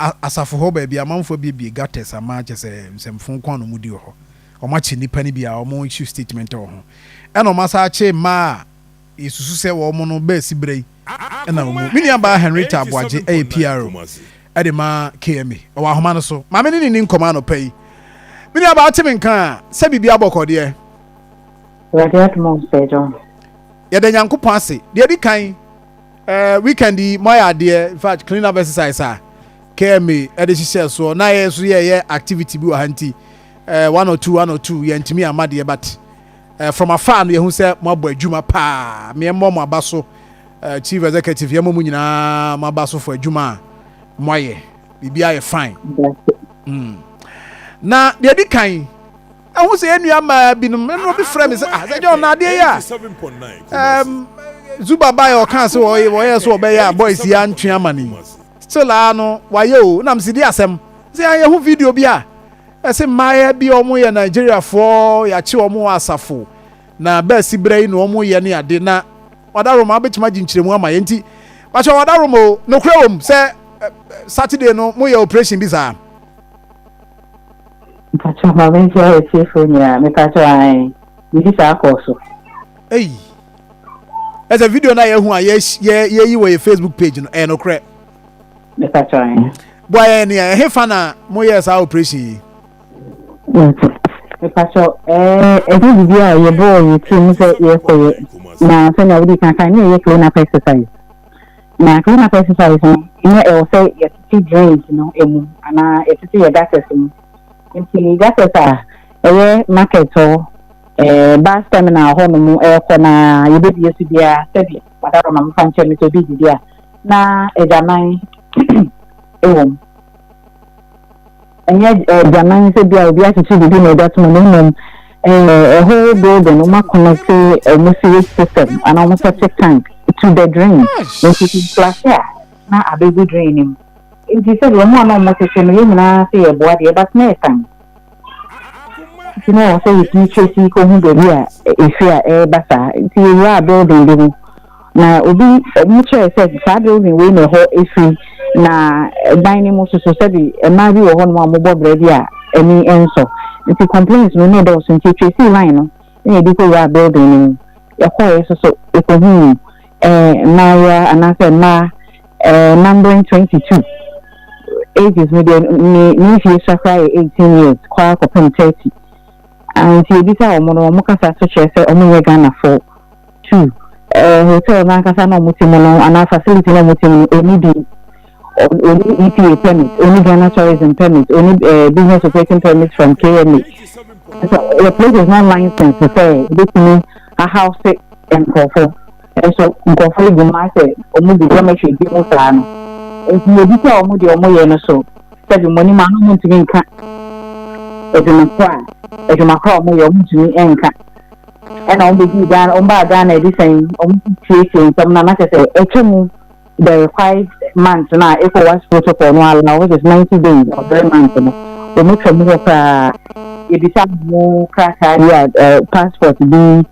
A Asafo hɔ baabi a amanfoɔ abuebue gutters ama kyerɛ sɛ nsɛmfo nko ara na wɔdi wɔ hɔ. Wɔakye nnipa no bi a wɔn issue statement wɔ ho. Ɛna wɔasan akye mmaa a yɛsusu sɛ wɔn no bɛresi berɛ yi na wɔn mu. Me nuabaa Henrietta Aboagye yɛ PRO de ma KMA. Ɔwɔ ahoma no so. Maame ne ne nni nkɔmmɔ anɔpa yi. Me nuabaa wote me nka a, sɛ biribi abɔ kɔ deɛ? Awurade adom a ɔsɛe dɔɔso. Yɛda Nyankopɔn ase. Deɛ ɛdi kan. ɛɛ eh, weekend yi mo ayɛ adeɛ in fact clean up exercise a kma ɛde hyehyɛ soɔ na yɛ nso yɛyɛ activity bi wɔ ha nti ɛɛ eh, one or two one or two yɛntumi ama deɛ but ɛɛ eh, from afar no yɛhu sɛ mo abɔ adwuma paa meɛ mmɔ mo aba so ɛɛ chief executive yɛn mo mu nyinaa mo aba so fo adwuma a mo ayɛ biribi ayɛ fine. Mm. na deɛ di kan Ɛho sɛ yɛn nua mmaa binom, mmerɛ obi frɛ me sɛ, ah, sɛ John, na adeɛ yɛ a, um, Zuba baeɛ a ɔkaa sɛ wɔyɛ, wɔyɛ so wɔbɛyɛ a boys yi antwe ama ne yi. Still a no, wayɛ o, nam si di asɛm. Sɛ yɛn yɛho video bi a, ɛsɛ mmaayɛ bi a wɔn yɛ Nigeriafoɔ, yɛakye wɔn wɔ asafo, na bɛasi berɛ yi na wɔn yɛ ne ade, na wadaroma abɛtumi agye nkyerɛmu ama yɛn nti, bakyɛ wadaroma o, nokorɛ wɔm sɛ eh, eh, Saturday no, mo yɛ operation bi saa. Mpakyɛw ma me nkyia atiefo nyinaa mepakyɛw ae biribi saa kɔɔ so. Ei ɛsɛ video no a yɛhu a yɛyi wɔ yɛ facebook page no ɛyɛ nokorɛ mepakyɛw ae boa yɛn nea ɛhe fa na moyɛɛ saa operation yi mepakyɛw ɛɛ ɛnyɛ biribi a yɛbɔɔ yɛ tirim sɛ yɛkɔyɛ na sɛnea wode kankan ne ɛyɛ clean up exercise Na clean up exercise no nyɛ ɛwɔ sɛ yɛtete drains no mu anaa yɛtete yɛ gutters mu. Nti gutters a ɛyɛ market hɔ, eh, bus terminal hɔ nom ɛkɔ na yɛbɛbie so biara sɛbi madam ama mefa nkyɛ me sɛ obi didi a na agyaman wɔ mu. Ɛnyɛ aduanan ne sɛ bia obi akyekye biribi na ɔde atoma no mmom a whole building wɔn akɔnɛte wɔn sewage system anaa wɔn septic tank to the drain nti sɛ flash a na abɛgu drain no mu nti sɛ deɛ wɔn a na wɔn kyekyɛ no yɛn nyinaa sɛ yɛboa deɛ but na ɛtan nti na wɔ sɛ yɛtumi trace kɔhu baabi a ɛfiri a ɛreba saa nti yɛwura building bi mu Na obi, wɔkyerɛe sɛ saa building wei na ɛhɔ fi, na dan no mu nso so sɛbi mmaa bi wɔ hɔnom a wɔbɔ bra bi a ani nsɔ. Nti complaints no na ɛdɔɔso nti yɛtracee line no na yɛde kɔwuraa building no mu. Yɛkɔeɛ nso so yɛkɔhuu eh, mmaayewa anaasɛ mmaa eh, numbering 22. Ages no deɛ ne ne mfie sua koraa yɛ 18 years kɔ ara kɔpem 30. Ah, nti yɛbisaa wɔn no, wɔn kasa so kyerɛ sɛ wɔnyɛ Ghanafoɔ. Two, eh, hotel n'ankasa na wɔte mu no anaa facility na wɔte mu no, ɔni din. Ɔni EPA permit, ɔni Ghana tourism permit, ɔni eh, business operating permit from KMA. So, the place is not licensed to say, ɛbɛtumi ahouse nkurɔfo. Nso nkurɔfo yi gu mu asɛ wɔn gu dormitory bi mu saa no. Nti yɛbi sɛ wɔn deɛ wɔn yɛ no so, sɛbi mo anim ano mo ntumi nka adwuma korɔ a adwuma korɔ a wɔn yɛ wɔn ntumi nka. ɛna wɔn bɛdii Ghana wɔn baa Ghana ɛde sɛn wɔn siesie nsɛm na na kyɛ sɛ ɛtwa mu the required month na ECOWAS protocol no allow which is ninety days or three months no wɔn atwa mu hɔ koraa yɛbisa wɔn krataa bi a passport bi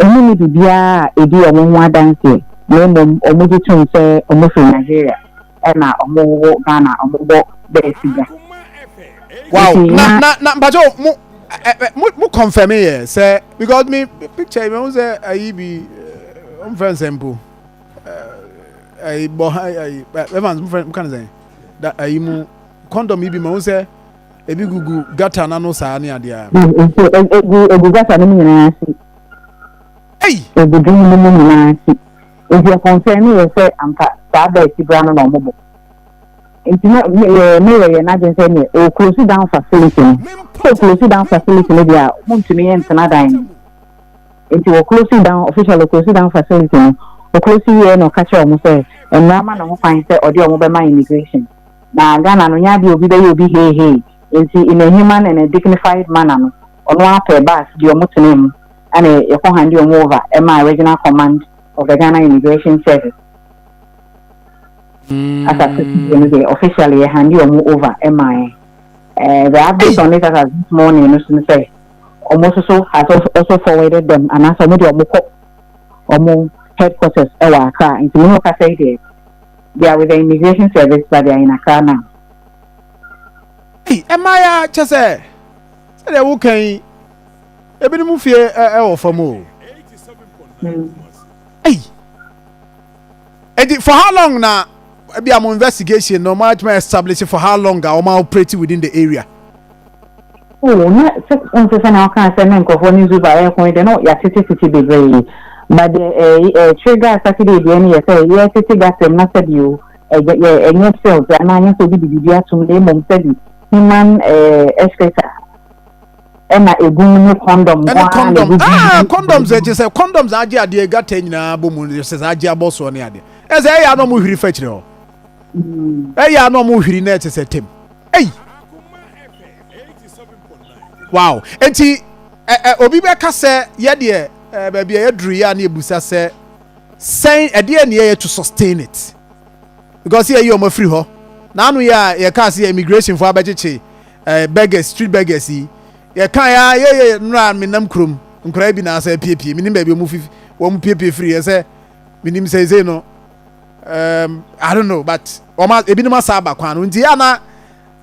wɔn ne biribiara a ɛdi wɔn ho adanseɛ na mmom wɔn gye tom sɛ wɔn firi Nigeria. na ɔmo wɔ Ghana ɔmo bɔ bɛɛ sigya. Wow na na na mpatsɔ mo ɛ ɛ mo mo confirm yɛ sɛ because mi picture yi mi ho sɛ ayi bi ɔmo fɛn sɛ mpo ayi bɔ ha ayi Evans mo fɛn mo kan sɛ da ayi mu condom yi bi mi ho sɛ ebi gugu gutter n'ano saa ne adeɛ. Egu egu gutter no mu nyinaa si. Ei! Agudeɛ no mu nyinaa akyi nti ɛkɔnfɛɛ me yɛ sɛ anka saa da akyi bra no na ɔmo bɔ. Nti na me yɛ me yɛ yɛ n'adwene sɛ neɛ ɔɔ close down facility no. Sɛ ɔ close down facility no deɛ a ɔmo ntumi ntena dan no mu. Nti wɔ close down officially ɔ close down facility no, ɔ close wieɛ na ɔka kyerɛɛ ɔmo sɛ mmara ma no ho kwan sɛ ɔde ɔmo bɛma immigration. Na Ghana no nyɛ adeɛ a obi bɛyɛ obi hee hee nti in a human and a dignified manner no ɔno ara pɛɛ bus de ɔmo tenaa mu. Ɛna yɛkɔ hande wɔn over ɛmaa Regional Command of the Ghana Immigration Service. As at today no deɛ officially yɛ hande wɔn over ɛmaa yɛn. Eh, the update on it as at this morning no so no sɛ wɔn nso so has also, also forwarded them anaasɛ wɔn deɛ wɔn kɔ wɔn headquarters ɛwɔ Accra nti mo ne wɔn kasa yi deɛ they are with the immigration service but they are in Accra now. Ei, ɛmaa yɛ kyɛ sɛ sɛdeɛ woka yi Ebinom fie wɔ fam o. Ei! Eti for how long na ebi a mo investigation no mo atuma establish for how long a wɔn operate within the area? Oh, na sɛ wɔn sɛ sɛ na ɔka sɛ ne nkurɔfoɔ ne Zuba ɛko yi de no yɛatete tete bebree. But deɛ ɛɛ ɛɛ trigger Saturday deɛ no yɛ sɛ yɛtete gasɛm na sɛbi o ɛgya yɛ ɛnyɛ sales anaa nyɛ sɛ obi de biribi atom na mmom sɛbi human ɛɛ excreta. ɛna egu mu ne kɔndɔm nko ara na egu mu. Ah, kɔndɔms ɛkyɛ sɛ kɔndɔms agye adeɛ gata nyinaa bɔ mu sɛ sɛ agye abɔ soɔ ne adeɛ ɛsɛ ɛyɛ anɔ mo hwiri fɛkyerɛ hɔ ɛyɛ anɔ mo hwiri na ɛkyɛ sɛ tɛm ɛyi wow eti ɛ ɛ obi bɛka sɛ yɛ deɛ ɛ baabi a yɛduru yɛ a ne ebusa sɛ sɛn ɛdeɛ ne yɛ to sustain it. because yɛyi wɔn afiri hɔ na ano yɛ a yɛkaa sɛ immigration fo abɛkyekye eh, beggars street beggars yi yɛka yɛ a yɛyɛ nnora menam kurom nkora bi na asɛ piepie menim baabi wɔn fi wɔn piepie firi yɛ sɛ menim sɛsei no um, I don't know but wɔn ebinom asa aba kwan no nti yɛ ana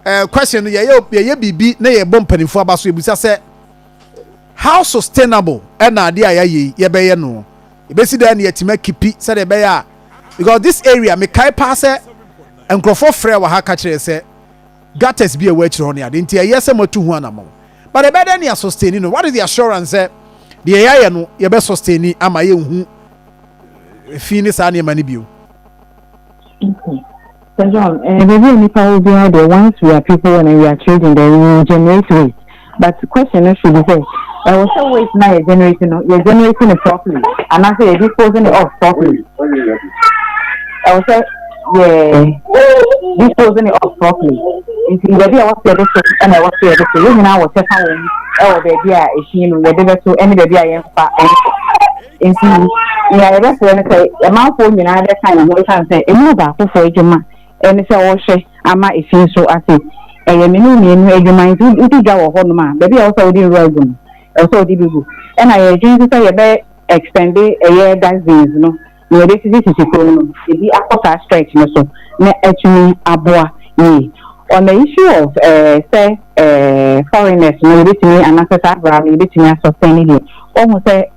uh, question no yɛyɛ yɛyɛ biribi na yɛbɔ mpanimfo aba so ebusa sɛ how sustainable ɛna adeɛ a yɛayɛ yɛbɛyɛ no. Yɛbɛsi dɛn na yɛatumi akipi sɛdeɛ ɛbɛyɛ a because this area mekae paa sɛ nkurɔfoɔ frɛ wɔ ha ka kyerɛ sɛ gutters bi a ɛwɔ akyire hɔ ne ade nti ɛyɛ sɛ moatu ho anamɔn but ɛbɛyɛ dɛn na yɛasɔsteni no what is the assurance sɛ deɛ yɛayɛ no yɛbɛsɔsteni ama yɛnhu fi ne saa nneɛma no bio. Sɛ John, eh, baabi a nipa wɔ biara deɛ, once we are people when we are children then we will generate waste. But question no should be sɛ, ɛwɔ sɛ waste na yɛ generate no, yɛ generate no properly, anaasɛ yɛ dispose no off properly. Ɛwɔ sɛ yɛ dispose no off properly. Nti baabi a wɔsɛ de so ɛna ɛwɔ sɛ yɛde so. Yɛn nyinaa wɔ kyɛfa wɔn ɛwɔ baabi a ɛhyin no yɛde bɛso ɛne baabi a yɛmfa ɛnso. Nti, nea yɛbɛsrɛ ne sɛ ɔmanfoɔ nyinaa bɛka yɛn ho ɛsiane sɛ ɛmu ɔbaakofoɔ adwuma ne sɛ ɔrehwɛ ama efie so ase. Ɛyɛ me ne mmienu adwuma nti wodi dwa wɔ hɔnom a, baabi a ɛwɔ sɛ wode nwura gu no, ɛwɔ sɛ wode bi gu. Ɛna yɛredwene nso sɛ yɛbɛ extende ɛyɛ dustbins no, nea yɛbɛsisisisi fam no, ebi akɔ saa stretch no so na atumi aboa yie. On the issue of eh, sɛ eh, foreigners no yɛbɛtumi anaasɛ saa bra no yɛbɛtumi asɔsɛn ne deɛ, wɔhu sɛ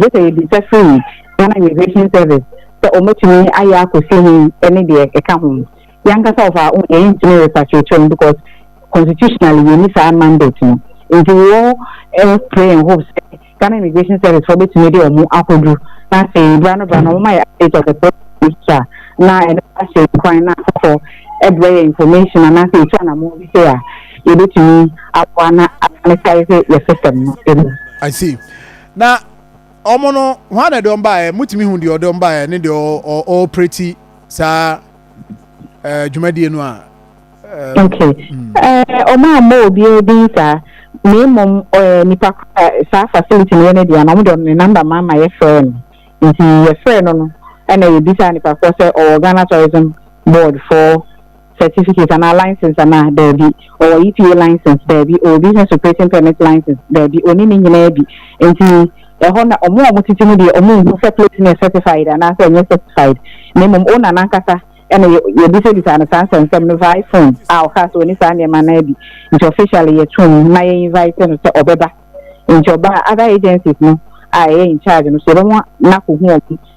Gye sɛ yɛbisa firi Ghana Immigration Service sɛ wɔbɛtumi ayɛ akɔsi he ne deɛ ɛka ho. Yɛ ankasa of our own yɛn ntumi repatriate wɔn because constitutionally yɛnni saa mandate no. Nti wo eh pray and hope sɛ Ghana Immigration Service foɔ bɛtumi de wɔn akɔduru na afei bra no bra no wɔma yɛ update of the process a na ɛno ahyɛ yɛn kwan na afoforɔ ɛbrɛ yɛ information anaasɛ yɛtu anammɔn bi sɛ a yɛbɛtumi aboa na asanetare sɛ yɛ system no ɛmu. I see. Na wɔn no, hwan na ɛde wɔn baeɛ? Motumi hu deɛ ɔde wɔn baeɛ ne deɛ ɔɔpreti saa ɛɛ dwumadie no a. Okay. Wɔn a mmɔ obiara din saa, na mmom nipa saa facility no yɛ ne deɛ no, wɔn de wɔn ne namba ma ma yɛfrɛ no. Nti yɛfrɛ no no, ɛna yɛbisa nipa korɔ sɛ ɔwɔ Ghana Tourism Board for certificate anaa license anaa, daabi, ɔwɔ EPA license, daabi, ɔwɔ business operating permit license, daabi, ɔnni ne nyinaa bi, nti ɛhɔ na wɔn a wɔtete mu deɛ wɔnhu sɛ plate no yɛ certified anaasɛ ɛnyɛ certified, na mmom owner no ankasa na yɛbisabisaa no saa nsɛmnsɛm no via phone a ɔkaa sɛ ɔnni saa nneɛma no ara bi, nti officially yɛtoo mu na yɛ invite no sɛ ɔbɛba, nti ɔbaa a other agencies no a ɛyɛ in charge no nso yɛbɛma no akɔhu wɔn.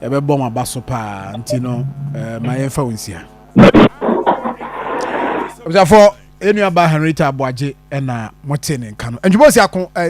ɛbɛbɔ mo aba so paa nti no ma yɛmfa wo nsia abusuafoɔ ɛnuaba henrita aboagye ɛna mote ne nka no ntwuma si ako